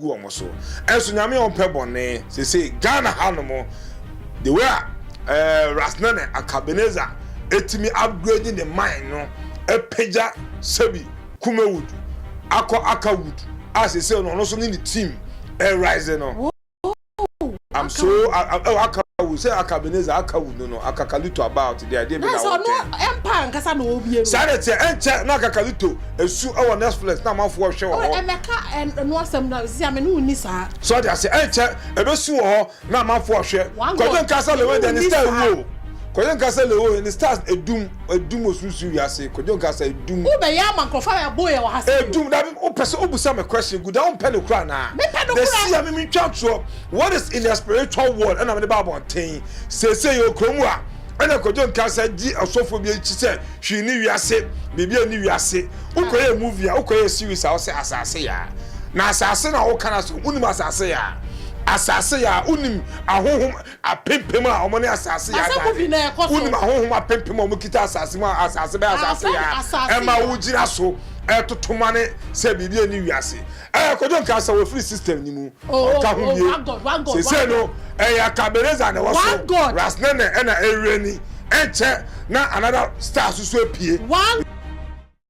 gu wɔn so ɛnso nyame ɔmpɛ bɔne sese Ghana ha nom the way a eh, Rasnene Akabeneza etimi upgrade ne mine no ɛpagya sɛbi Kumewood akɔ Akawood a sese no ɔno so ne ne team ɛrise no. I'm so oh aka wu sɛ aka beneza aka wu no no akakalito about the idea bi na wɔn tɛn. ɛmpa ankasa na wɔn bie no. saa de teɛ ɛnkyɛ na akakalito esu ɛwɔ netflix na amanfo ɛhwɛ wɔ hɔ. ɛmɛka ɛnu asɛm na sisi ame ne wɔn ni saa. sɔ de ase ɛnkyɛ ebesu wɔ hɔ na amanfo ɛhwɛ kɔjɔ nkasa lewo de ne star ewu o kɔjɔ nkasa lewo ne stars edum. Edum osunsun wiase. Kwadwo nka sɛ edum. Wo bɛ yɛ ama nkorɔfo a yɛ bo yɛ wɔ ha sɛ bio. Edum na me wo pɛ sɛ wo bu sa me question gu da wo mpɛ no kura anaa? Me pɛ no kura. Dɛ si a me me ntwa ntorɔ what is in the spiritual world ɛna me de ba abɔnten seesei yɛ wɔ kuro mu a ɛna kwadwo nka sɛ gye ɔsɔfoɔ bi akyi sɛ hwii ni wiase biribi a ni wiase wo kɔ yɛ movie a wo kɔ yɛ series a wo sɛ asase yaa na asase na wo ka na so wo nim asase yaa asase yaa wo nim ahohom Apempem a wɔne asase yɛ adane. Wonim ahonhom apempem a wɔkita asase mu a asase bɛyɛ asase yɛ a ɛma wogyina so retoto mane sɛ biribi ani wiase. Ɛɛ, Kojo nka sɛ wɔfiri system no mu. Ɔnka ho bie. Seesei no, ɛyɛ Kabeleza na ɛwɔ so, Ras Nene ɛna Erirani. Ɛnkyɛ na another star nso so apue.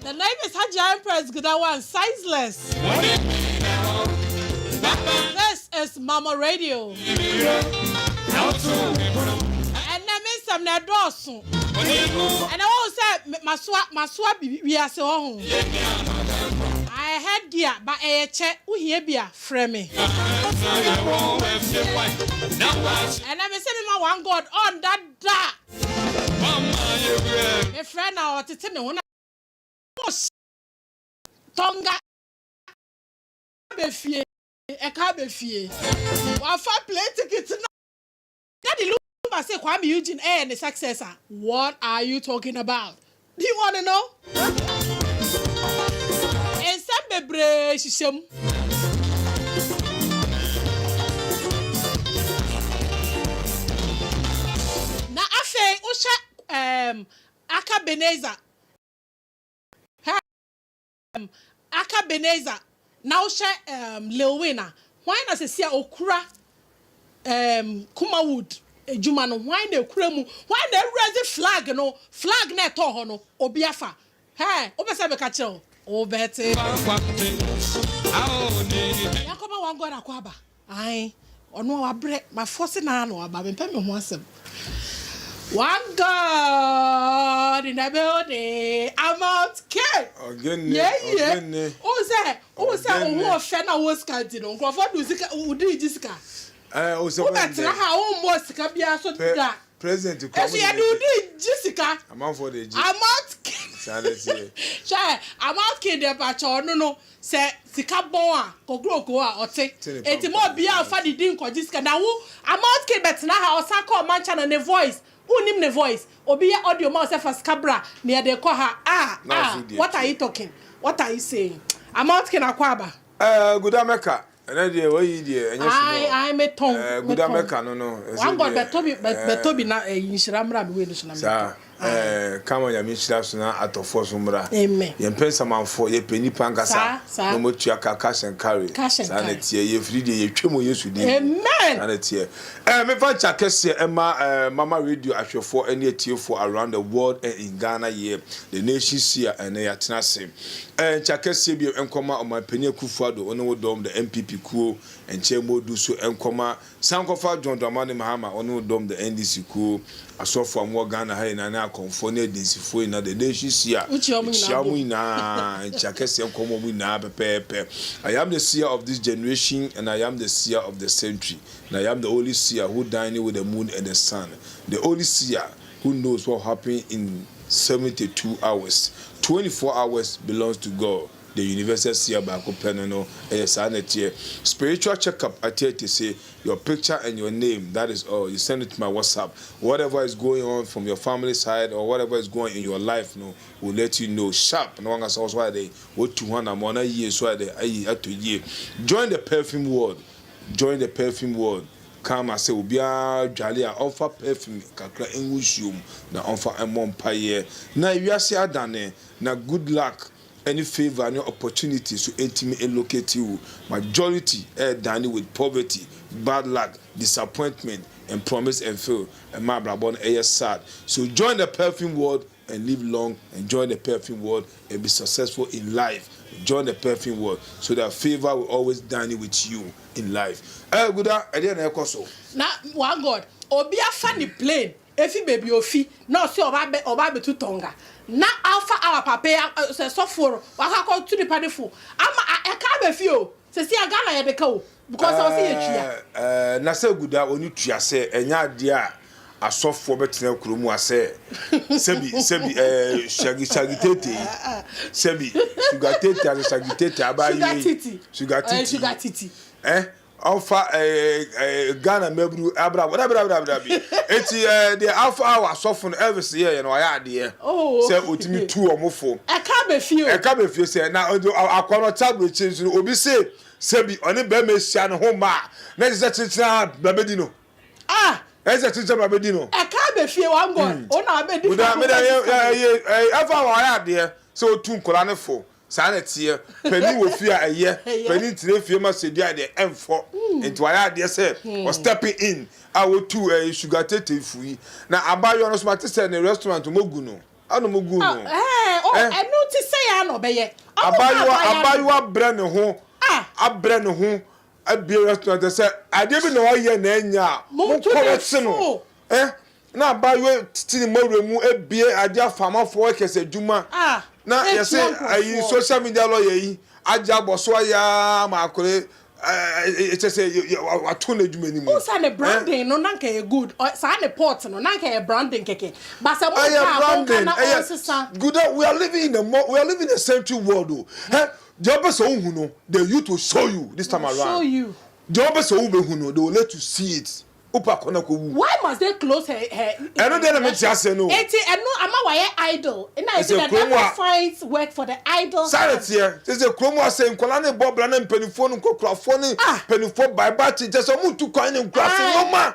The name is Hajia Empress Gidawan Sizeless. This is Mamo Radio. Ɛnɛ me nsɛm na ɛdɔɔso. Ɛnɛ wɔn sɛ masoa masoa bibi wiase hɔ ho. I heard dear ba ɛyɛ kyɛ wohie bi a frɛ me. Ɛnɛ me sɛ me ma one God ɔnda da. Mefrɛ na ɔtete me ho na ɔhyɛ tɔnga bɛfie ɛka bɛfie wafa plane ticket na na de lumba se Kwame Eugene ɛyɛ ne successor what are you talking about Di wɔne no. Nsɛm bebree hyehyɛ mu. Na afei wohwɛ ɛɛm aka Beneza. Ehm, aka Benazer na wohyɛ ehm, Lil Wayne a, hwan na sɛsi a okura ehm, Kumawood adwuma no, hwan na ekura mu, hwan na awura dze flag no, flag na ɛtɔɔ hɔ no, obi afa. Hɛɛ, wopɛ sɛ meka kyerɛ wo? Wobɛte. Yakoba Wangoda Kwaba. Ae, ɔno a wabrɛ, mafɔ se naa na waba, mempɛ me ho asɛm. One God in the building, I'm out king! Ɔgenne, Yɛyɛ, ɔgenne, wohu sɛ, wohu sɛ wo ho ɔgenne. ɔfɛ na wowɔ sika nti no, nkurɔfoɔ de wo sika, wo de regye sika. Ɛɛ, o sɛ wɔn Wobɛtena dɛ. ha a wommɔɔ sika biara so Pɛ, da. president kura mo Nso de yɛde wo regye. de regye sika. Amanfoɔ de regye. I'm out king! Saa na ɛteɛ. Hwɛ, I'm out king deɛ mpakyɛ ɔno no, Sɛ sika bɔn a kokroko a ɔte eti ma obia nfa ne din nkɔgye sika na wo amount king bɛtena ha ɔsan kɔ ɔman channel ne voice wonnim ne voice obi yɛ audio ma wo sɛ fa sika bra na yɛde rekɔ ha ah ah what are you talking what are you saying amount king akwaaba. Ɛɛ guda mɛka Ɛnɛ deɛ wayi deɛ ɛnyɛ small. Ae ae me tɔn me tɔn. Ɛguda mɛka no no. One God bɛtɔ bi bɛtɔ bi na ɛyi nhyira mmra me wei no so na me tɔ. Saa ɛɛ kama nyame nhyira so na atɔfoɔ so mmra. Amen. Yɛn pɛ nsamanfoɔ yɛ pɛ nipa nkasa. Saa saa. Na ɔmo tua ka cash and carry. Cash and carry. Saa na ɛteɛ yɛ firi deɛ yɛ twɛ mu yesu din mu. Amen. Saa na ɛteɛ. Ɛɛ me fa nkyɛ akɛseɛ ɛma ɛɛ mama radio ahwɛfoɔ ɛne atiefoɔ around the world and in Ghana here the nation see a ɛnɛ yɛ atena ase. Nkyɛ akɛseɛ bio nkɔma Ɔmanpanin Akuffo Addo wo ne wo dɔm the NPP kuo nkyɛ mmɔ du so nkɔma San nkɔfa John Dramani Mahama wo ne wo dɔm the NDC kuo Asɔfoɔ a wɔwɔ Ghana ha nyinaa ne Akɔmfoɔ ne Adinsifoɔ nyinaa the nation si a Wokyia wɔn nyinaa bom. nyinaa nkyɛ akɛseɛ nkɔma wɔn nyinaa pɛpɛɛpɛ I am the seer of this generation and I am the seer of the century and I am the only seer who dine with the moon and the sun the only seer Who knows what will happen in seventy two hours, twenty four hours belongs to God the universal seer baako pɛ no no ɛyɛ saa na ɛteɛ spiritual check up ɛteɛ te se your picture and your name that is all you send it to my whatsapp whatever is going on from your family side or whatever is going in your life no will let you know sharp na wankasa wɔso ayɛ dɛ wɔtu ho anamɔ na yie nso ayɛ dɛ ayi atɔ yie join the perfume world join the perfume world Ka ama sɛ obiara dwale a ɔmfa perfume kakra ngu nsuo mu na ɔmfa mmɔ mpaeɛ. Na wiase adane, na good luck ne favour ne opportunity nso ntumi nlocate wo. Majority ɛredane with poverty, bad luck, disappointment and promise and fail ɛma abrabɔ no yɛ sad. So join the perfume world and live long and join the perfume world and be successful in life join the perfume world so that favour will always dine with you in life ɛɛ guda ɛdeɛ na ɛkɔ so. na one god obi afa ne plane efi baabi ofi na ɔsi ɔba abɛ ɔba abɛtu tɔnga na alfa awa papa yi sɛ sɔfoɔ no wakɔ akɔ tu nipa ne fo ama a ɛka abɛfi o sɛsi a ghana yɛde ka o. Because ɔwɔ sɛ yɛtua. Ɛɛ na sɛ guda ɔne tua sɛ ɛnyɛ adeɛ a asɔfoɔ bɛtena kuro mu a sɛ sɛbi sɛbi ɛɛ shagi shagi tete yi sɛbi suga tete ase shagi tete abaa yi wei suga titi suga titi ɛ ɔfa ɛɛ ɛɛ Ghana mɛburu abira abira abira abira abira bi eti ɛɛ deɛ afa awɔ asɔfo no Elvis yɛ yɛ no ɔyɛ adeɛ sɛ otumi tu wɔn fo ɛka bɛ fie o ɛka bɛ fie sɛ na akɔnɔ tablo ekyi nso obi se. Sɛ bi ɔne bɛɛma ehyia no ho mma a, na ɛsɛ sɛ kyerekyere ara na bɛdi no. Ah! Ɛsɛ sɛ kyerekyere ma bɛdi no. Ɛka abɛ fie wa ngɔ o na abɛ di fa ho bɛ di fa ho. Ɛyɛ ɛfa wɔ ayɛ adeɛ sɛ otu nkɔla ne fo saa na ɛteɛ. Panin wɔ fie a ɛyɛ, panin tena fie ma sɛ dua deɛ ɛnfɔ. Nti wayɛ adeɛ sɛ ɔ stepping in a otu ɛɛ sugar tetefui. Na abayewa no so ma te sɛ ne restaurant ɔmo gu no. anom guu no. Abaayewa abaayewa brɛ ne ho abrɛ ne ho abue restaurant ɛ sɛ adeɛ bi na ɔyɛ na ɛnyɛ a monkɔ no se no ɛ na abaayewa titi ne mawura mu abue adeɛ afamafoɔ ɛkɛsɛ adwuma na yɛse ayi social media lawyer yi agye abɔ so ayɛ ama akɔre ɛkyɛ sɛ wato n'adwuma no mu. o sa ne branding no na nka yɛ good saa ne pot no na nka yɛ branding kɛkɛ ba sɛ mo nka mo nka na ɔnsesa. good we are living in a more we are living in a century world o hɛ deɛ ɔbɛ sɛ ohun no the youth will show you this time around deɛ ɔbɛ sɛ ohun bɛ hun no they will let you see it. Upa kɔ na kɔ wu. Why must they close her her Instagram? Ɛno deɛ na me nte aseɛ no o. Eti ɛno ama wayɛ idle na ebi na that guy finds work for the idle son. Saa na ɛteɛ, kyerɛ sɛ kurom asɛe, nkwadaa no rebɔ bra na mpaninfoɔ no nkorakurafoɔ ne mpaninfoɔ bae ba akyi, kyerɛ sɛ wɔn ntu kwan ne nkuraase nnoɔma,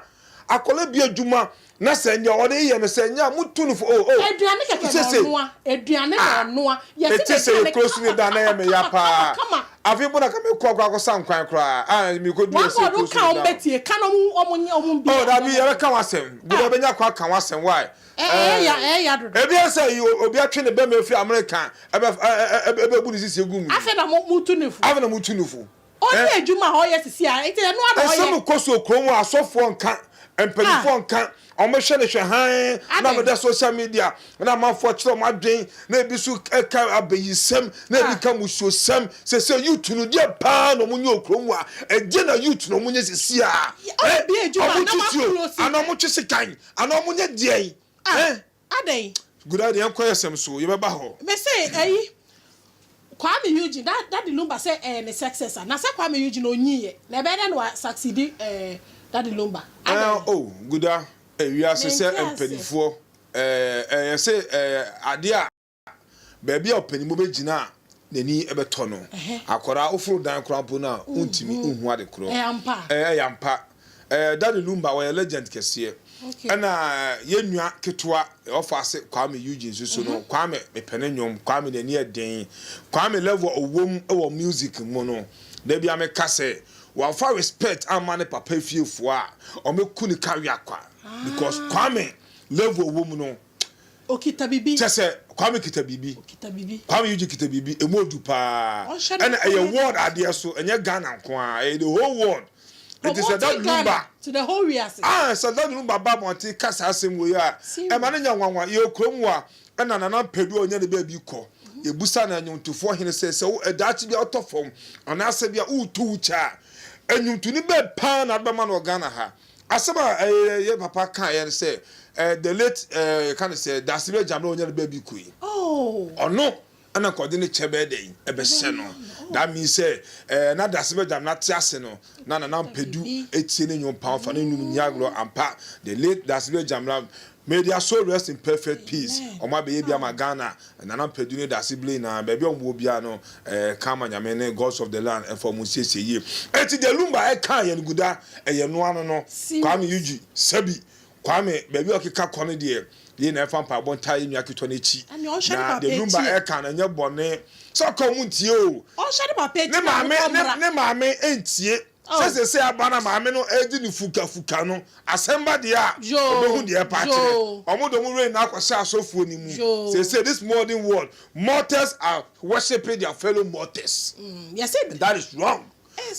akwadaa bi adwuma na sɛ nea ɔde reyɛ no sɛ nyɛ a motu no fo oh oh. Aduane kɛkɛ na ɔnoa, aduane na ɔnoa, yɛsi na aduane kama kama kama kama. Afei mpo na ka mekɔ akɔ akɔsan kwan koraa a merekoduru wɔn ɔsɛe kurow so no da o. Oh, dabi, yɛbɛka ho asɛm. Bere a yɛbɛnya kwan aka ho asɛm, wai. Ɛɛ, ebia sɛ yi obi atwe ne bɛma afiri Amerika ɛbɛ ɛ ɛ ɛbɛbu ne sisi agu mu yi. Afei na motu no fo. Afei na motu no fo. Ɔnyɛ adwuma a ɔyɛ sisi a, nti ɛno ara na ɔyɛ. Nsɛm kɔ so wɔ kurom hɔ a, asɔfoɔ nka, mpanimfoɔ nka, Wɔhwɛ no hwɛ hann na wɔda social media na amanfoɔ kyerɛ wɔn adwen na ebi so ka abayisɛm na ebi ka musuosɛm sese youth no deɛ paa na wɔnyɛ wɔ kurom a ɛdeɛ na youth na wɔnyɛ sese a eh wɔtwe tuo anaa wɔtwe sekan anaa wɔnyɛ deɛn eh. Adɛn? Good ade, yɛnkɔ yɛ sɛm so, yɛbɛba hɔ. Me se ɛyi, Kwame Eugene, da, Daddy Lumba sɛ ɛyɛ ne successor, na sɛ Kwame Eugene ɔnyii yɛ, na ɛbɛyɛ dɛn na wa succeed eh, Daddy Lumba? Adɛn? Eh, oh, Guda, eh, wiase sɛ Mente aseɛ. mpaninfoɔ, eh, eh, yɛse, eh, adeɛ a. baabi a ɔpanyin bɔ bɛgyina a n'ani bɛtɔ no. Akwadaa woforo dan koraa mpo no a wontumi nhu ade korɔ. Ɛyɛ ampa. Daddy Lumba wɔyɛ legend kɛseɛ. Ɛna yɛn nua ketewa ɔfa ase Kwame Eugene nso so no, Kwame mepɛ ne nnwom, Kwame n'ani yɛ den. Kwame level a ɔwom wɔ music mu no, da biara meka sɛ wamfa respect amma ne papa fiefoɔ a, wɔbɛku no ka wea kwa because Kwame level a ɔwom no, Kyɛ sɛ, Kwame kita biribi. Kwame Eugene kita biribi. Emu odu paa. Ɛna ɛyɛ world adeɛ so. Ɛnyɛ Ghana nko ara. Ɛyɛ the whole world. Nti sɛ Dad Lumba, aah, sɛ Dad Lumba ba abɔnten ka saa asɛm wei a, ɛma no nyɛ nwanwa. Yɛwɔ kurom a, ɛna Nana Mpedu a ɔnya ne baabi kɔ. Yɛbusa no nnwomtofoɔ hene sɛ, sɛ wo, daakye bi a wotɔ fam, anaasɛ bi a woretu wo kyɛ a, nnwomtoni bɛn paa na wode bɛma no wɔ Ghana ha? Asɛm a ɛyɛ yɛn papa kaeɛ no sɛ ɛɛ the late ɛɛ yɛka no sɛ Dasibɛ Gyamena a ɔnya ne baabi kuro yi. Ɔno ɛna nka ɔde ne kyɛ bɛyɛ dɛn ɛbɛhyɛ no. That means sɛ ɛɛ na Dasibɛ Gyamena te ase no na Nana Mpadu etie ne nnwom paa ɔfa ne nnwom nyi agorɔ ampa. The late Dasibɛ Gyamena May their soul rest in perfect peace Ɔmo abɛyɛ bi ama Ghana Nana Mpadu ne Daase Blay nyinaa baabi a ɔmo wɔ biara no eh Ka ama Nyame ne Gods of the land ɛfa ɔmo nsiesie yie Ɛnti deɛ Lumba ɛkaa yɛn guda ɛyɛ noa no no Kwame Eugene Sɛbi Kwame baabi a ɔkeka kɔ no deɛ Yei na ɛfa mpaebɔ ntaa yɛn nua ketewa no akyi Na deɛ Lumba ɛka no ɛnyɛ bɔne Sɛ ɔka a ɔmo ntie oo Ne maame ne maame ɛntie. Sɛ seesei aba na maame no redi no fukafuka no, asɛm ba deɛ a, ɔbɛhu deɛ ɛpa akyerɛ. Wɔn de wɔn werɛ nyinaa kɔhyɛ asɔfoɔ no mu. Seesei, this modern world, mortals are worshipping their fellow mortals. And that is wrong.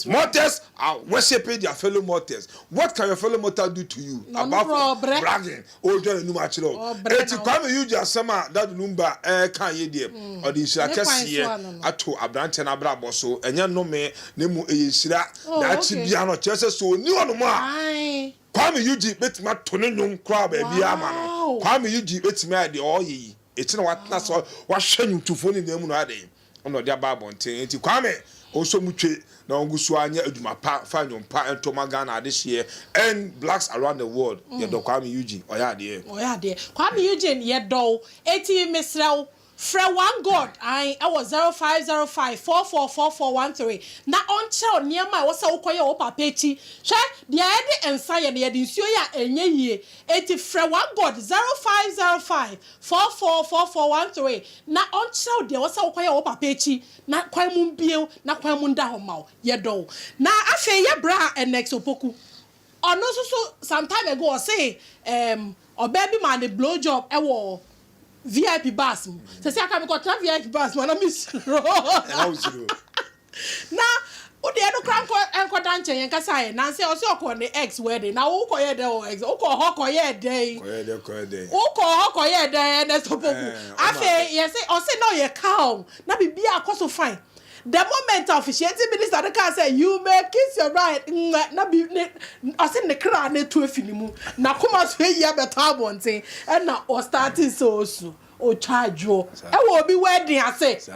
Mortals are worshipping their fellow mortals. What can your fellow mortal do to you, apart from bragging? Ɔredwa n'anom akyerɛ wo. Enti Kwame Eugye asɛm a Dadu Lumba reka yi deɛ, ɔde nhyira kɛseɛ ato aberanteɛ no abrabɔ so. Ɛnyɛ nnome, na mmom ɛyɛ nhyira. Daakye biara no, kyerɛ sɛ, sɛ ɔnni hɔnom a, Kwame Eugye bɛtumi ato ne nnwom koraa baabiara ama no. Kwame Eugye bɛtumi ayɛ deɛ ɔreyɛ yi. Ɛkyena watena ase, wahwɛ nnwomtofoɔ no nyinaa mu na wayɛ dɛn? na ɔde aba abɔnten nti Kwame ɔsɔ mu twe na ɔngu so ara nyɛ adwuma pa fa nnwom pa nto ma Ghana adehyeɛ and blacks around the world yɛdɔ Kwame Eugene ɔyɛ adeɛ. Ɔyɛ adeɛ Kwame Eugene yɛdɔ wo enti mesrɛ wo frɛ one God ae ɛwɔ zero five zero five four four four four one three na ɔnkyerɛ wo nneɛma a ɛwɔ sɛ wokɔ yɛ wɔ wo papa akyi hwɛ deɛ yɛde nsa yɛ no yɛde nsuo yɛ a ɛnyɛ yie enti frɛ one God zero five zero five Four four four four one three na ɔnkyerɛ wo deɛ ɔsɛ wokɔyɛ wɔ wo papa akyi na kwan mu mbue wo na kwan mu nda hɔ mma wo. Yɛdɔ wo. Na afei yɛ bra Ennex Opoku. Ɔno nso so some time ago ɔse ehm ɔbaa bi maa no blow job wɔ VIP bus mu. Sɛsɛ koraa mekɔtra VIP bus mu a na mesuro. Ɛna wo suro. Na wo deɛ no koraa nkɔ nkɔda nkyɛn yɛn kasa yɛ nansi ɔsi ɔkɔ ne ex wedding na wo kɔ yɛ dɛ wɔ ex wokɔ hɔ kɔ yɛ dɛ yi kɔyɛ dɛ kɔyɛ dɛ wokɔ hɔ kɔ yɛ dɛ ɛnɛ sopoku ɛɛ ɔma afei yɛsi ɔsi na ɔyɛ calm na bibi akɔ so fine the moment a officiating minister no kaa sɛ you may kiss your bride nwɛ na bi ne ɔsi ne kra na etu efi ne mu na kɔma so eyi abɛtɔ abɔnten ɛna ɔstarting sɛ osu. Otwa adwo wɔ obi wɛɛden ase.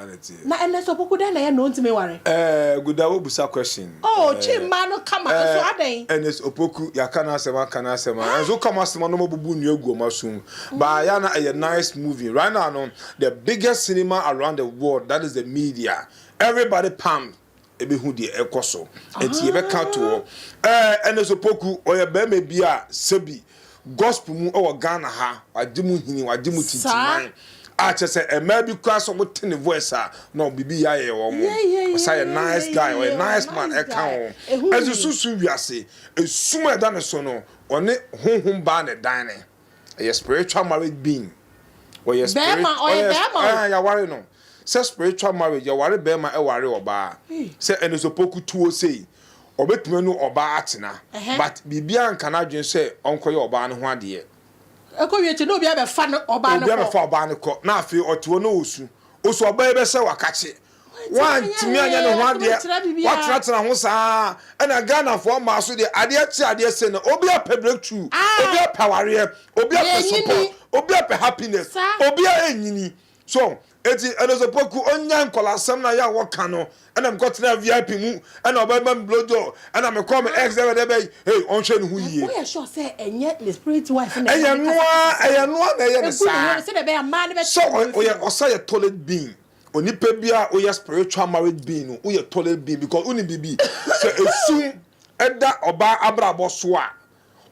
Na ɛnɛ nso ɔpoku dɛn na ɛyɛ na ontumi nware? Ɛɛ guda wo busa question. Oh otwi mmaa no kama nso adɛn? Ɛnɛ nso ɔpoku yaka n'asɛm aka n'asɛm a ɛnso woka ɔmo asɛm a na ɔmo abubu nnua agu ɔmo asom but ɛyɛ a na ɛyɛ nice movie right now no the biggest cinema around the world that is the media everybody pumped. ɛbɛhu deɛ ɛkɔ so nti yɛbɛka to hɔ ɛɛ ɛna so poku ɔyɛ bɛrima bi a sɛbi gospel mu ɛwɔ ghana ha wagye mu hini wagye mu tintiman a kyɛ sɛ ɛmaa bi kura sɛ ɔmo te ne voice a na ɔbibi yɛ ayɛ wɔn ɔsa yɛ nice guy ɔyɛ nice man ɛka ho ɛso susu wiase esum a ɛda ne so no ɔne honhom baa ne dan ne. Ɛyɛ spiritual marriage being. Ɔyɛ spirit. Ɔyɛ bɛrima. Ɛɛ yaware no. Sɛ spiritual marriage yɛware bɛrima ɛware ɔbaa. Sɛ ɛnisopo kutuo sei ɔbɛtumi ne ɔbaa atena but biribiara nka n'adwene sɛ ɔnkɔyɛ ɔbaa no ho adeɛ. Ɛkɔ wie kyɛ na obiara bɛfa no ɔbaa no kɔ. Obiara bɛfa ɔbaa no kɔ na afei ɔte hɔ na ɔsu. Ɔsu ɔbaa yi bɛsɛ wakakye Wantumi anyɛ ne ho adeɛ, watenatena ho saa. Ɛna Ghanafoɔ mmaa so deɛ, adeɛ kye adeɛ se no, obi apɛ breakthrough, ah! obi apɛ awareɛ, obi apɛ support, obi apɛ happiness, obi a ɛnyini. So, eti Ɛnosopoku, ɔnya nkɔlasɛm na yɛ a wɔka no, ɛna mekɔtena VIP mu, ɛna ɔbɛma me blowjob, ɛna mekɔ me ex dɛbɛdɛbɛ, hey, ɔnhwɛ ne ho yie. Woyɛ sure sɛ ɛnyɛ ne spirit wife na ɛyɛ ne kasa kasa no? Ɛyɛ noa, ɛyɛ noa na ɛyɛ ne saa. Egu ne ho no sɛdeɛ ɛbɛyɛ mmaa no bɛte ne ho. So, ɔyɛ ɔsɛ yɛ toilet bean. Onipa biara a woyɛ spiritual marriage being no, woyɛ toilet being because wonim biribi. Sɛ esum da ɔbaa abrabɔ so a,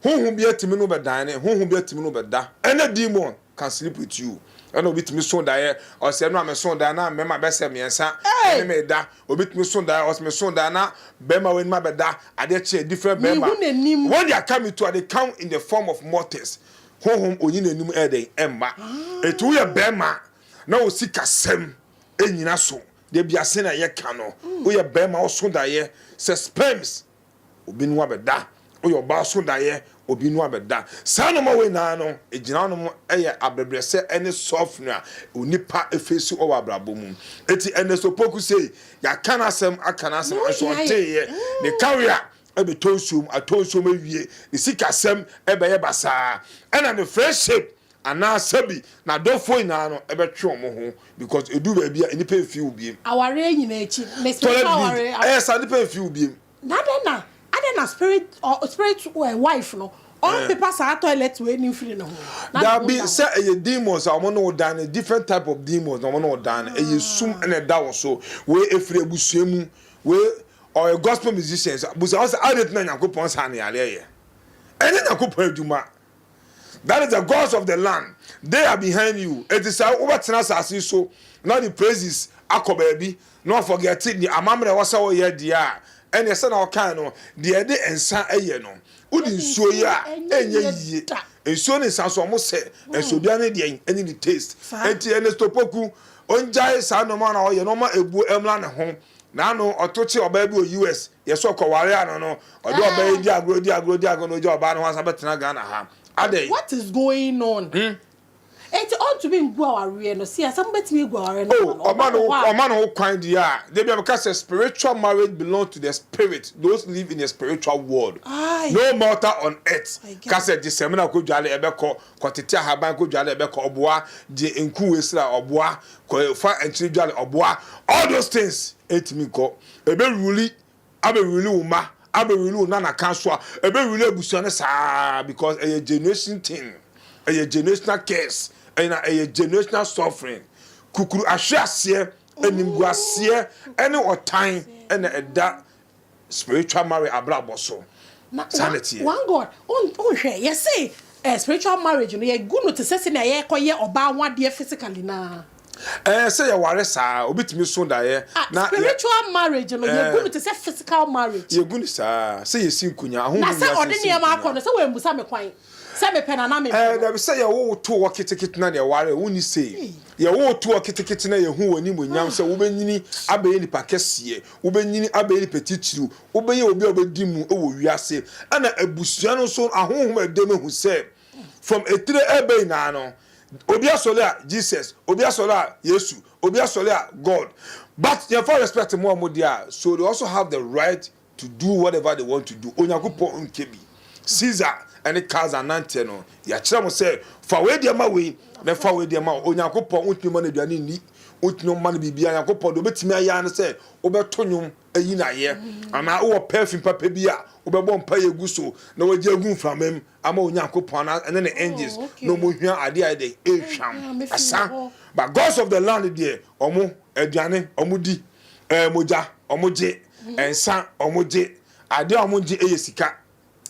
honhom bi atumi ne wo bɛdan ne honhom bi atumi ne wo bɛda. Ɛna demon can sleep with you. Ɛna obi tumi so daeɛ, ɔse ɛno a meso daeɛ na mmarima bɛsɛ mmiɛnsa ɛne me reda. Obi tumi so daeɛ, ɔse meso daeɛ na barima wei ne me abɛda, adeɛ kye a different barima. Mehu n'anim. When they are coming to a, they come in the form of mortals. Honhom ɔnyi n'anim ɛyɛ dɛn? Ɛmma. Enti woyɛ barima Na wo sikasɛm nnyina so dabia sɛnea yɛka no woyɛ barima woso daeɛ sɛ sperms obi no abɛda woyɛ ɔbaa woso daeɛ obi no abɛda saa nnoɔma wei nyinaa no ɛgyina hɔ nom ɛyɛ abrɛbrɛsɛ ɛne suffering a onipa ɛfeesi wɔ abrabɔ mu ɛti Ernest Opoku sei yɛaka n'asɛm aka n'asɛm nso ɔnteeɛ ne kawe a ɛbɛtɔ nsuom atɔ nsuom awie ne sikasɛm ɛbɛyɛ basaa ɛna ne friendship Anaa sɛbi n'adɔfoɔ nyinaa no bɛtwe wɔn ho because ɛduru baabi a nnipa mfii wo biem. Awareɛ nyinaa akyi mesi mfa awareɛ. Toilet bill ɛyɛ saa nnipa mfii wo biem. Na adɛn na adɛn na spirit ɔ spirit wife no ɔmpepa saa toilet wei no mfiri ne ho na ne ho nda hɔ. Dabi sɛ ɛyɛ demons a wɔn ne wo dan no different type of demons na wɔn ne wo dan no ɛyɛ sum na ɛda wo so wei ɛfiri abusua mu wei ɔyɛ gospel musicians busa wɔn sɛ adɛn nti na Nyankopɔn saa ne yareɛ yɛ ɛnyɛ Nyankopɔn adwuma That is the gods of the land, they are behind you. Enti sɛ wobɛtena asase yi so na wode praises akɔ baabi na woafɔgɛte nea amammerɛ ɛwɔ sɛ woyɛ deɛ a, ɛnneɛ sɛnea wɔkae no, deɛ ɛde nsã yɛ no, wode nsuo yɛ a, ɛnyɛ yie. Nsuo ne nsã nso, wɔsɛ. Nanso obiara ne deɛn ne ne taste. Enti Ernesto Poku, ɔngyae saa nneɛma no a ɔyɛ no, ɔmma ɛbuo mmra ne ho. Naano ɔto kye ɔbaa bi wɔ US, yɛ sɛ ɔkɔware ano no, ɔde ɔbaa yi di agorɔ, odi agorɔ, odi agorɔ na ogya ɔbaa no hɔ asan bɛtena Ghana ha. Adɛn? What is going on? Hmm? Enti ɔntumi ngu awareɛ no, sɛ yɛsɛ mobɛtumi agu awareɛ no ama no, Oh, ɔma ɔma no wo hɔ a. ɔma no ho kwan deɛ a, da bi a meka sɛ spiritual marriage belongs to the spirit, those live in the spiritual world, Aye, no mortal on earth I get ka it. sɛ gye sɛ me na kɔdware ɛbɛkɔ kɔtete ahaban kɔdware na ɛbɛkɔ ɔboa gye nku esra ɔboa kɔ fa nkyene dware ɔboa all those things ɛtumi nkɔ ɛbɛ ruli abɛ ruli wo ma abɛ ruli wo nana kan so a ɛbɛ ruli abusua no saa because ɛyɛ generation thing ɛyɛ generational curse ɛna ɛyɛ generational suffering kukuru ahwe aseɛ animguaseɛ ɛne ɔtan ɛna ɛda Spiritual marriage abrabɔ so na saa na ɛteɛ. One God wonhwɛ yɛse eh spiritual marriage no yɛgu no te sɛ sɛnea yɛkɔyɛ ɔbaa ho adeɛ physically no ara. Eh sɛ yɛware saa obi tumi so daeɛ na yɛ. Spiritual marriage no yɛgu no te sɛ physical marriage. Yɛgu no saa sɛ yɛsi nkonya ahohom wiase si nkonya. Na sɛ ɔde nneɛma akɔ no sɛ wammusa me kwan. Sɛ mepɛ no anaa mempɛ no. Ɛɛ, dabi sɛ yɛwo wo too hɔ ketekete na deɛ ware wo nni sei. Yɛwo wo too hɔ ketekete na yɛhu wo animuonyam sɛ wobɛnyini abɛyɛ nipa kɛseɛ, wobɛnyini abɛyɛ nipa titiriw, wobɛyɛ obi a wobɛdi mu wɔ wiase. Ɛna abusua no nso ahonhom a ɛdam ahu sɛ from etire reba nyinaa no, obi asɔre a, Jesus, obi asɔre a, Yesu, obi asɔre a, God. But yɛmfa respect mmoa wɔn deɛ a, so they also have the right To do whatever they want to do, Onyankopɔn nkyɛ bi. Caesar ne Kaiser nanteɛ no, yɛakyerɛ mo sɛ fa wei deɛ ma wei na fa wei deɛ ma wei. Onyankopɔn wontumi ma no aduane nni, wontumi ma no biribiara. Onyankopɔn deɛ wobɛtumi ayɛ ara ne sɛ wobɛto nnwom ayi no ayɛ, anaa wowɔ perfume papa bi a wobɛbɔ mpaeɛ agu so na wagye agu mframam ama Onyankopɔn anaa ɛne ne angels na wɔn hwia adeɛ a ɛdɛ ɛhwam ɛsa. But gods of the land deɛ wɔn aduane wɔn di. Ɛɛ mogya ɔmo gye, nsa ɔmo gye, adeɛ a ɔmo ngye ɛyɛ sika.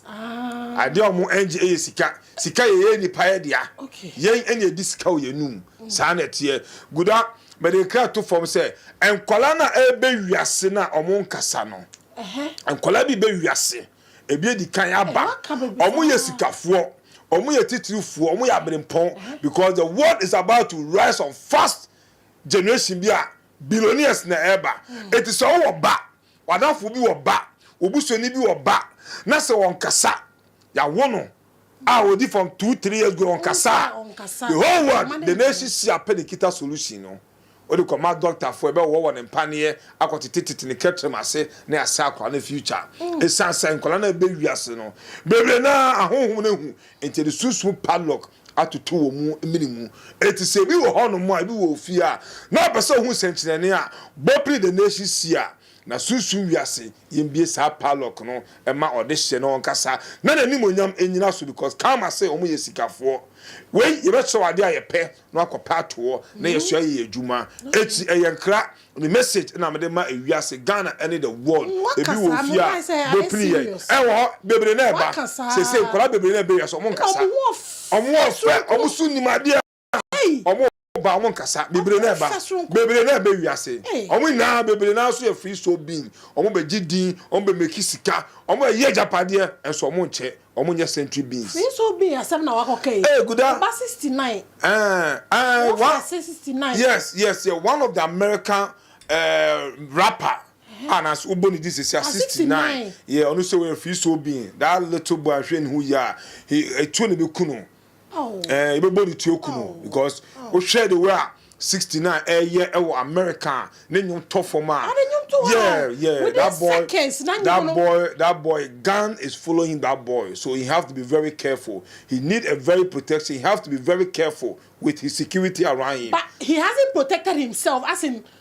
Ah. Adeɛ a ɔmo ngye ɛyɛ sika. Sika yɛ yɛ nipa yɛ dea. Okay. Yɛn ɛna ɛdi sika wɔ yɛn num. Mm. Saa na ɛteɛ. Guda, mɛde kra to fam sɛ, nkwadaa na ɛbɛ wiase na ɔmo nkasa no. Ɛhɛ. Nkwadaa bi bɛ wiase. Ebi edi kan aba. Ɔmo yɛ sikafoɔ. Ɔmo yɛ titirifoɔ. Ɔmo yɛ abirempɔn. Because the world is about to rise on fast generation bi a. Billionaires na ɛba. Enti sɛ wo wɔ ba, w'adamfo bi wɔ ba, wo busuani bi wɔ ba, na sɛ ɔnkasa, yɛawo no a ɔdi fam two, three years go ɔnkasa a, the whole world, the nation si apɛ ne kita solution no, wode kɔma doctor fo, ɛbɛwowɔ wɔ ne mpaneɛ, akɔtete tete ne kɛtrɛm ase, na yɛasɛe akwadaa no future. Ɛsiane sɛ nkwadaa no a ɛbɛ wiase no, bebree no ara ahonhom no ahu, enti yɛde sunsum padlock atoto wɔn mene mu. Enti sɛ obi wɔ hɔnom a, ebi wɔ ofie a, na ɔpɛ sɛ ohu nsɛnkyerɛnne a Bopli the Nation si a, na Sunsum Wiase yɛn bue saa padlock no ma ɔde hyɛ na ɔnkasa na n'animuonyam nnyina so because Karma se wɔn yɛ sikafoɔ. Wei yɛbɛkyerɛw ade a yɛpɛ na wɔakɔpɛ ato hɔ na yɛsoa yɛ adwuma akyi. Ɛyɛ nkra Me message na mede ma ewiase Ghana ne the world ebi wɔ ofie a bɛpini yɛn ɛwɔ hɔ bebree na ɛba sesei nkwadaa bebree na ɛba ewiase ɔmo nkasa ɔmo ɔfɛ ɔmo so nim adeɛ ɔmo ba ɔmo nkasa bebree na ɛba bebree na ɛba ewiase ɔmo nyinaa bebree na nso yɛ free soul being ɔmo bɛ gye din ɔmo bɛ meki sika ɔmo bɛ yɛ agyapadeɛ nso ɔmo nkyɛ Ɔmo nyɛ century beans. Free soul bean asɛm na wakɔ ka yi. Ee guda. Ɔba sixty nine. Ɛɛ ɛɛ wa. Wɔfa ase sixty nine. Yes yes yɛ one of the American ɛɛ rapper a na ase wobɔ ne di sisi a sixty nine yɛ ɔno sɛ wɔyɛ free soul bean that little boy anhwɛ ne ho yie a he etuo na ebekunu. ɛɛ yɛbɛbɔ ne tuo kunu because wohwɛ de wei a sixty nine ɛyɛ ɛwɔ America ne nnwom tɔ fam a yeah yeah that boy that boy that boy gun is following that boy so he have to be very careful he need a very protection he have to be very careful with his security around him. But he hasn't protected himself as in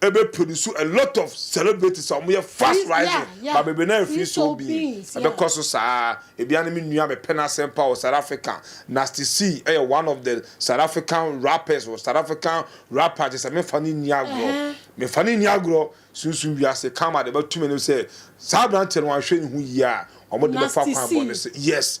Ɛbɛ pɛ no su a lot of celebrities a ɔmo yɛ fast rising ba bebe na ɛnfii so obii ɛbɛ kɔ so saa ebia ne me nua me pɛ n'asɛm paa wɔ south africa nasty c ɛyɛ one of the south african rappers wɔ south african rapper kyɛ sɛ me nfa ne nni agorɔ me nfa ne nni agorɔ sunsum wiase karma de bɛ to me no sɛ saa abranteɛ no wanhwɛ ne ho yie a ɔmo de bɛ fa kwan bɔne so yes.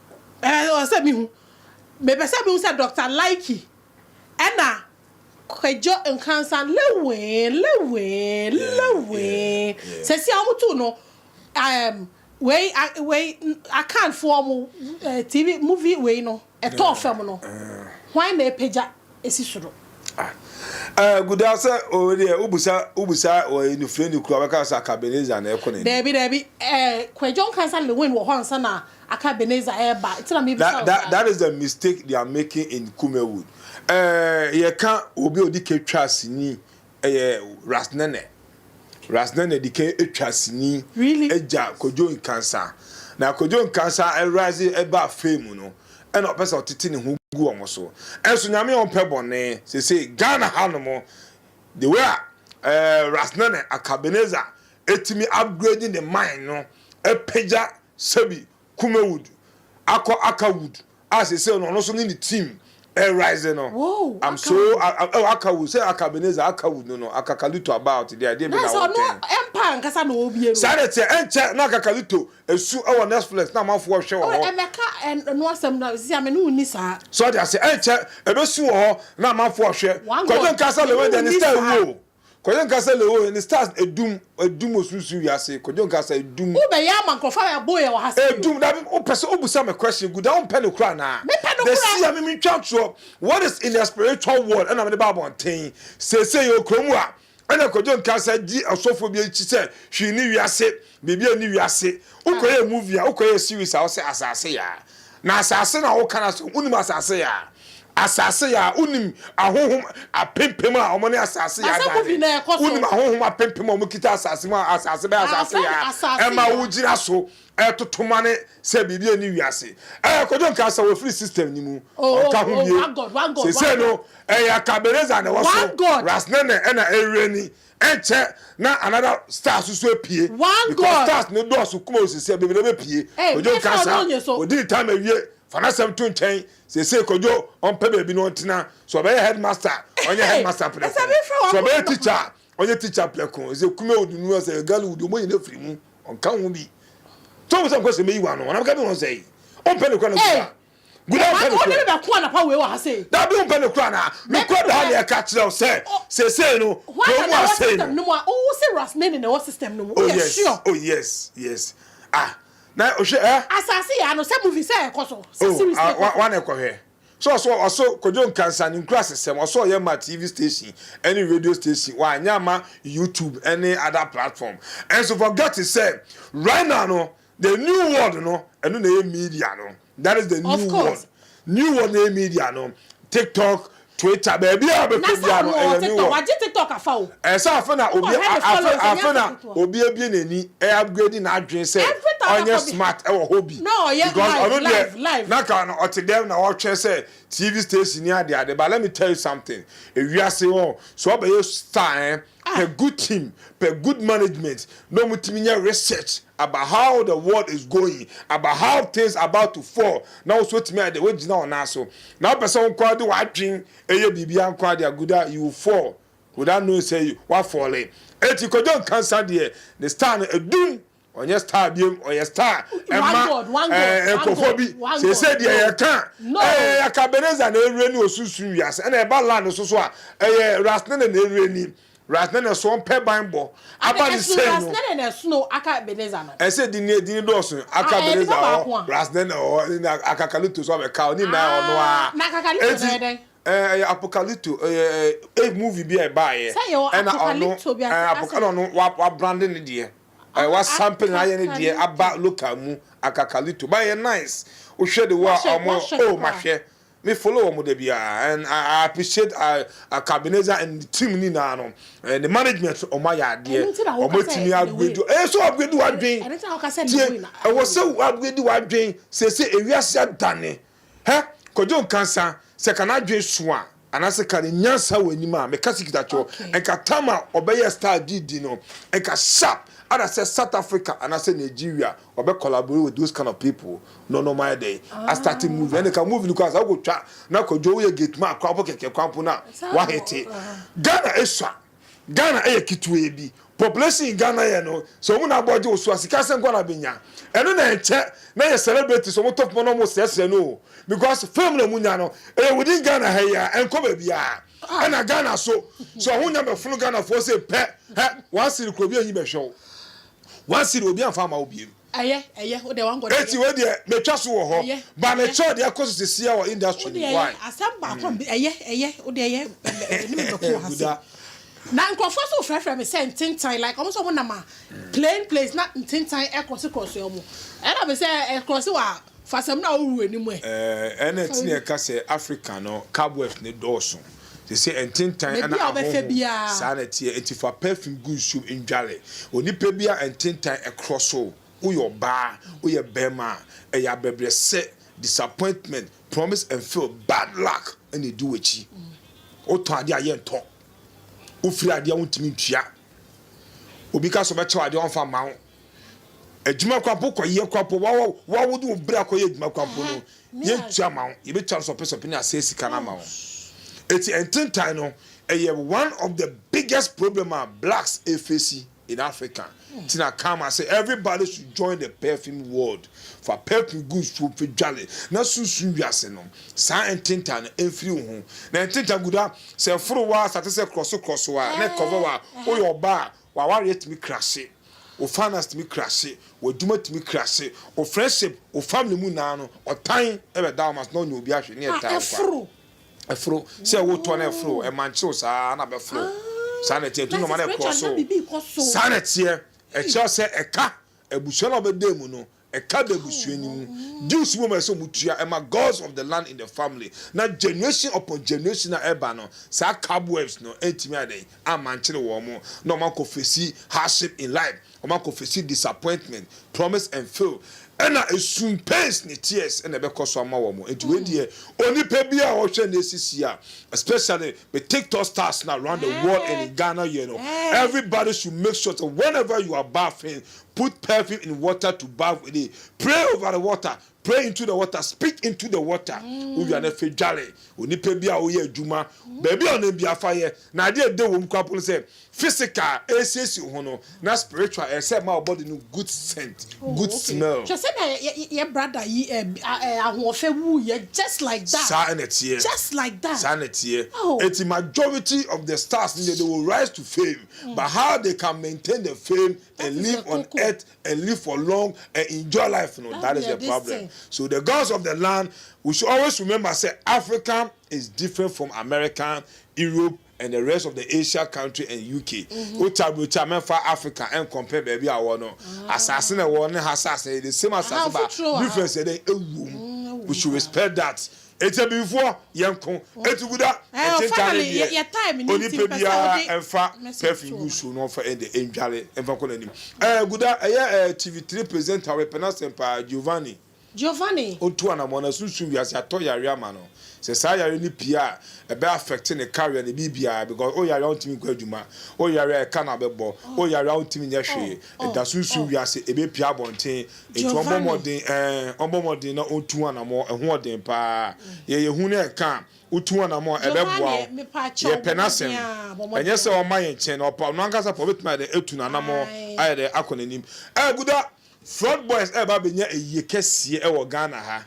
Eh, ɔsɛ sɛ mehu. Mepɛ sɛ mehu sɛ Dɔkta Likey ɛna Kwadwo Nkransah lewee, lewee, lewee. Sɛsi a wɔn too no ɛɛm wei a wei Akan foɔ wɔn eh TV movie wei no ɛtɔɔ fam no, hwan na apagya asi soro? Ah, eh, Gudaa sɛ oh deɛ wobusa wobusa wɔ Enufreni kura wɔbɛka sɛ Akabeneza na ɛko na ni. Daabi daabi, eh Kwadwo Nkransah lewin wɔ hɔ ansa na Aka Ebenezer ɛɛba nti na mebisa wo saa. That is the mistake they are making in Kumewood eh, yɛka obi a ɔdi ka twaa sini ɛyɛ Ras Nene, Ras Nene di ka twaa sini gya Kojo Nkansa, na Kojo Nkansa ɛrise ɛbaa fame no ɛna ɔpɛ sɛ ɔtete ne ho gu wɔn so, ɛnso Nyame a ɔmpɛ bɔne, sesei Ghana ha nom the way a eh Ras Nene, Aka Ebenezer ɛtumi upgrade ne mind no, ɛpagya Sebi Kumewood akɔ Aka Wood a seesei no ɔno nso ne ne team ɛrerise no. Whoa, I'm Aka so Wood. a- a- oh, Aka Wood sɛ Aka Ebenezer Aka Wood no no Akakalito about deɛ ɛdeɛ bi na na sɛ ɔno wɔretwɛn. empire ankasa na ɔrebie no Saa na ɛteɛ ɛnkyɛ na Akakalito esu ɛwɔ Netflix na amanfoɔ rehwɛ wɔ oh, hɔ. ɛbɛka ɛn- ɛno asɛm no sisi a me ne wo nni saa So ɔde ase ɛnkyɛ ebesu wɔ hɔ na amanfoɔ rehwɛ. One Kwadwo God, nka sɛ me ne wo Lewenda ne nni star saa. ewu o. Kwadwo nka sɛ le oh ne stars edum edum wɔ sunsum wiase kwadwo nka sɛ edum. Wo bɛyɛ ama nkorɔfo a yɛboo yɛn wɔ ha sɛ edum. Edum na me wo pɛ sɛ wo busa me question gu da wo mpɛ no kora anaa? Me pɛ no kora. Desia me me ntwa ntorɔ what is in their spiritual world ɛna me de ba abɔnten seesei yɛ wɔ kuro mu a ɛna kwadwo nka sɛ gye ɔsɔfoɔ bi akyi sɛ hwii ne wiase Biribi a ɛnni wiase. Wokɔyɛ movie a, wokɔyɛ series a, wose asase yaa. Na asase na woka no asɛm. Wonim asase yaa. Asase yaa, wonim ahonhom apempem a wɔne asase yaa da ade. Wonim ahonhom apempem a wɔkita asase mu a asase bɛyɛ asase yaa ma wogyina so toto mane sɛ biribi a ɛnni wiase. Ɛɛ, Kojo nka sɛ wɔfiri system no mu. Ɔnka ho bie. Seesei no, ɛyɛ Akabereza na ɛwɔ so. Ras Nene na Ewireni Ɛnkyɛ na another stars nso apue because stars no dɔɔso kuma o sese bebree bɛ pue kwadwo nka saa odi ne time awie fa n'asɛm to nkyɛn sese kwadwo ɔmpɛ baabi na ɔntena so ɔbɛyɛ headmaster ɔnyɛ headmaster prɛko so ɔbɛyɛ teacher a ɔnyɛ teacher prɛko sɛ kuma o de nua sɛ girl o de ɔmo nyina firi mu ɔnka ho bi tɔn sɛ nkɔ sɛ meyi wa no ɔnam ka bi wɔn sɛ yi ɔmpɛ ne kura na ɔdi ba. Gulay mpɛ no koraa. Dabi wompɛ no koraa anaa? Nokura da ha na yɛka kyerɛ wo sɛ seesei no kurom mu asɛe no. Oh yes, oh yes, yes. Ah, na hwɛ eh. Oh, ah, wa na ɛkɔhwɛ. So ɔso ɔso Kojo Nkansah ne nkurasesɛm ɔso ɔyɛ ma TV station ɛne radio station wanyɛ ama YouTube ɛne other platform. Ɛnso forget sɛ right now no The new world no ɛno na ɛyɛ media no that is the new world new world na ɛyɛ media no tiktok twitter baabi a bɛkɔ bia no ɛyɛ new world wagye tiktok afa o ɛsɛ afe na obi afe na obi abie n'ani ɛ upgrade n'adwene sɛ ɔnyɛ smart ɛwɔ hɔ bi because ɔno deɛ na ka no ɔte dɛm na ɔtwɛn sɛ tv station ni ade ade but let me tell you something ewiase wɔn so ɔbɛyɛ star eh A good team pɛ good management na ɔmo tumi nyɛ research about how the world is going, about how things about to fall na wo so watumi ayɛ dɛ wagyina wo nan so na wopɛ sɛ wo nko ara de w'adwen yɛ biribiara nko ara de aguda a you will fall without knowing sɛ wafɔle. Eti Kojo Nkansah deɛ ne style no adum Ɔnyɛ star biom ɔyɛ star ɛma ɛɛ nkurɔfoɔ bi sese deɛ yɛ ka ɛɛ yaka beneza na ewura ni osunsum wiase ɛna ɛba land no soso a ɛyɛ rasnene na ewura ni rasnene so ɔmpɛ ban bɔ aba ne sɛn no rasnene na ɛsono aka beneza no ɛsɛ di ni di ni dɔɔso aka beneza ɔhɔ rasnene ɔhɔ ɛna aka kalito so abɛka ɔni na ɔno a na aka kalito na ɛdɛn ɛɛ apokalito ɛɛ ɛɛ movie bi a ɛba yɛ ɛna ɔno ɛɛ apokalito ɔno wa wa brande ne deɛ. Ae wa sample na ayɛ ne deɛ aba local mu akakalito ba ɛyɛ nice wo hwɛ de wa ɔmo oh ma hwɛ me follow ɔmo da biara and I, I appreciate I, I Cabenezer and the team ni naa no and the management so ɔmo ayɛ adeɛ ɔmo atumi upgrade ɛyɛ eh, so upgrade wadwen tie ɛwɔ sɛ upgrade wadwen sese ewiase adane. Hɛ! Kwadwo Nkansah, sɛ ka n'adwene su a, anaasɛ ka ne nyansa wɔ anim a, meka sɛ kita kyerɛw. Nka tam a ɔbɛyɛɛ style de di no, nka sharp ara sɛ South Africa anaasɛ Nigeria, ɔbɛ collaborate with those kind of people na ɔne wɔn ayɛ dɛn? A starte movie. Ɛnde ka movie no koraa, sɛ wokɔtwa na Kwadwo woyɛ gateman koraa, wobɔ kɛkɛ kwan mpo no a, woahete. Ghana asua. Ghana yɛ ketewaa bi. Population in Ghana yɛ no, sɛ wɔn na abɔ gye wo so a, sika asɛn nko ara na bɛnya. Ɛno na ɛnkyɛ na yɛ celebrities wɔn tɔ poma na wɔn srɛsrɛ no o. Because fame na wɔn nya no, ɛyɛ within Ghana ha yi ara, ɛnkɔ baabiara. Ɛna Ghana nso, sɛ ɔhonya bɛfono Ghanafoɔ se pɛ, hɛ, one cedi kura obi anyi bɛhwɛ wo. One cedi, obi amfa amma wo biam. Ɛyɛ, ɛyɛ, wo deɛ wɔn gɔdɔ. Eti wei deɛ metwa so wɔ hɔ. Ba ne kyɛw deɛ ɛkɔ so sesia wɔ industry mu. Why? Ɛyɛ, asɛm baako a ɛyɛ, ɛyɛ, wo deɛ ɛyɛ, ɛyɛ ne me bɛko wɔ ha se. Na nkurɔfoɔ nso frɛfrɛ me sɛ ntentan like wɔn nso wɔn nam a plain place na ntentan ɛkrɔse krɔse wɔn. Ɛna me sɛ ɛkrɔse wɔ a fa samina wɔ wura anim ɛ. Ɛɛ ɛna ti na ɛka sɛ Africa no cobwebs ne dɔɔso. Te sɛ ntentan na ahonhom, saa na ɛteɛ. Enti fa perfume gu nsu mu ndware. Onipa bi a ntentan korɔ so, woyɛ ɔbaa, woyɛ barima a, ɛyɛ abɛbrɛsɛ, disappointment, promise and fail, bad luck na ɛdi w'akyi. Wotɔn adeɛ a yɛ ntɔ. Wofiri adeɛ a wontumi ntua. Obi ka sɛ ɔbɛkyɛ wo adeɛ a ɔmfa mma wo. Adwuma kwapo kɔyɛ kwapo wawo wawo de wɔn bere akɔyɛ adwuma kwapo no yɛntua ma wo yɛbɛtua no sɔpesɔpe ne asɛe sika no ama wo ɛti ɛntentan no ɛyɛ one of the biggest problem a blacks ɛfesi in Africa ti na kama sɛ everybody should join the perfume world fa perfume gu nsuo fɛ dwale na sunsun wiase no saa ɛntentan no ɛmfiri wo ho na ɛntentan guda sɛ foro wa sate sɛ krɔso krɔso a ne cover wa woyɛ ɔba a W'awareɛ tumi krase, wo finance tumi krase, w'adwuma tumi krase, wo friendship, wo family mu nyinaa no, ɔtan bɛda wo ma so na ɔnyɛ obi ahwɛ ne ɛtaa wo kwa. Ɛforo. Sɛ wotɔ na ɛforo, ɛmankyere wo saa na bɛforo. Saa na ɛteɛ, ɛtu nɔma na ɛkɔ so. Saa na ɛteɛ, ɛkyerɛ sɛ ɛka abusua no a wobɛda mu no Ɛka da abusua no mu. Dues wom a ɛsɛ sɛ wɔtua ma gods of the land in the family, na generation upon generation a ɛba no, saa cobwebs no antumi ayɛ dɛn? Ammankyere wɔn, na wɔakɔ fesi hardship in life, wɔakɔ fesi disappointment, promise and fail, ɛna esu, pains ne tears na ɛbɛkɔ so ama wɔn. Enti wei deɛ, onipa biara a ɔhwɛ nnɛ sisi a, especially me TikTok stars no around the world and in Ghana here no, everybody should make sure sɛ whenever you are bathing, Put perfume in water to bath with it, pray over the water, pray into the water, speak into the water. Wowia no afei dware. Onipa bi a woyɛ adwuma, baabi a ɔnam biara fa yɛ. Na adeɛ a ɛda wɔ mu koraa mpo ne sɛ, physical ɛresiesie wo ho no, na spiritual ɛyɛ sɛ ɛma wo body no good scent, good smell. Hwɛ sɛdeɛ yɛ brada yi ahoɔfɛ wuiɛ just like that. Saa na ɛteɛ. Just like that. Saa na ɛteɛ. Enti majority of the stars no deɛ they will rise to fame but how they can maintain the fame and live on earth and live for long and enjoy life no that is the problem so the girls of the land we should always remember say africa is different from america europe and the rest of the asia country and uk mm-hmm. o ta bro cha mɛfa africa and compare baabi a wɔ no ah. asase na wɔ ne ha asase the same asase ba difference yɛ dɛ ewu we should respect that Ɛkyɛ bimfoɔ yɛ nko ɛtu gu da ɛkye ntare deɛ onipa biara ɛnfa pɛfin gu nsuo no ɔnfa ɛdɛ ɛndware ɛnfa kɔ n'anim ɛɛ gu da ɛyɛ ɛɛ TV three presenter wɛpɛ n'asɛm paa Giovanni Giovanni ɔntu anamɔ na sunsum wiase atɔ yareɛ ama no sɛ saa yareɛ no pie a ɛbɛ affect ne career ne biribiara because o yareɛ a ɔntumi nkɔ adwuma o yareɛ a ɛka no abɛbɔ o yareɛ a ɔntumi nyɛ hwee ɛda sunsum wiase ɛbɛ pie abɔnten Enti ɔbɔ mmɔden, ɛɛ, ɔbɔ mmɔden na ɔtu anammɔn, ɛhoɔden pa ara. Yɛ yɛn hu na yɛn ka a, wotu anammɔn a, ɛbɛboa wo. Yɛpɛ n'Asɛm. Ɛnyɛ sɛ ɔma yɛn kyɛn, ɔpa, ɔno ankasa pa, ɔbɛtumi ayɛ dɛn atu n'anammɔn ayɛ dɛn akɔ n'anim. Ɛɛguda, Flood Boys ɛɛba abɛnya ayie kɛseɛ ɛwɔ Ghana ha.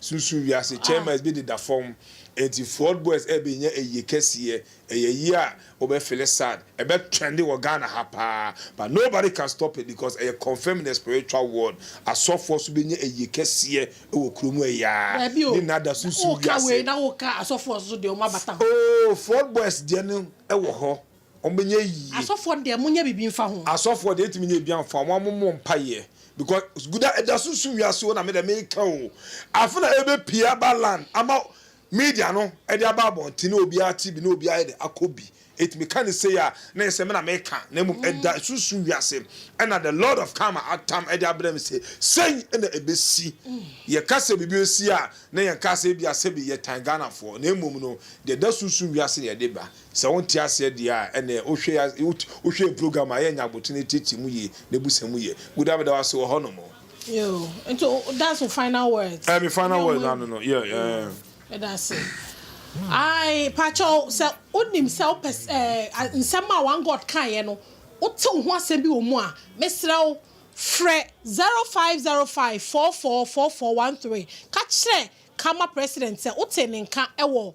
Susu wiase chairmans bi deda fam. Enti Ford boys ɛbɛ nya ayie kɛseɛ. Ɛyɛ ayie a wobɛ fele sad. Ɛbɛ trende wɔ Ghana ha paa. But nobody can stop it because ɛyɛ confirmed in the spiritual world. Asɔfoɔ nso bɛ nya ayie kɛseɛ wɔ kuro mu ɛyɛ a. Daabi o. Ne nada susu wiase. Wo ka wei na wo ka asɔfoɔ nso deɛ wɔn abata ho. Oh Ford boys deɛ no ɛwɔ hɔ. wɔnyɛ yie. Asɔfoɔ deɛ monyɛ biribi mfa ho. Asɔfoɔ deɛ yɛntumi nyɛ biribiara mfa ho wɔn mommɔ mpaeɛ because guda ɛda so nso wiase o na medeɛ meka o afe na ɛbɛpie aba land ama media no ɛde aba abɔnten na obiara te bi na obiara ayɛdɛ akɔ bi enti meka no sei a na ɛyɛ sɛ me na meka na mmom ɛda so nso wiase ɛna the lord of karma atam ɛde abrɛ me sɛ sei na ɛbɛsi yɛka sɛ biribi ɛsi a na yɛnka sɛ ebia sɛbi yɛtan Ghanafoɔ na mmom no deɛ ɛda so nso wiase na yɛde ba Sɛ wonte aseɛ deɛ a, ɛnneɛ wohwɛ yɛ as wot wohwɛ yɛ program a, yɛnyɛ abotene atiatia mu yie na ɛbusa mu yɛ good. Ame da wo ase wɔ hɔ nom. Yoo, nti o o that's wo final words? Ɛɛ, me final Ɛnyɛ words ɔmo naa no awie? no, yeah, Yoo, ɛɛ. meda ase. Ae, pakyɛw, sɛ wonim sɛ wopɛ sɛ ɛɛ a nsɛm a One God kaeɛ no, wote wo ho asɛm bi wɔ mu a, mesrɛ wo, frɛ zero five zero five four four four four one three. Ka kyerɛ Karma President sɛ wotee ne nka wɔ.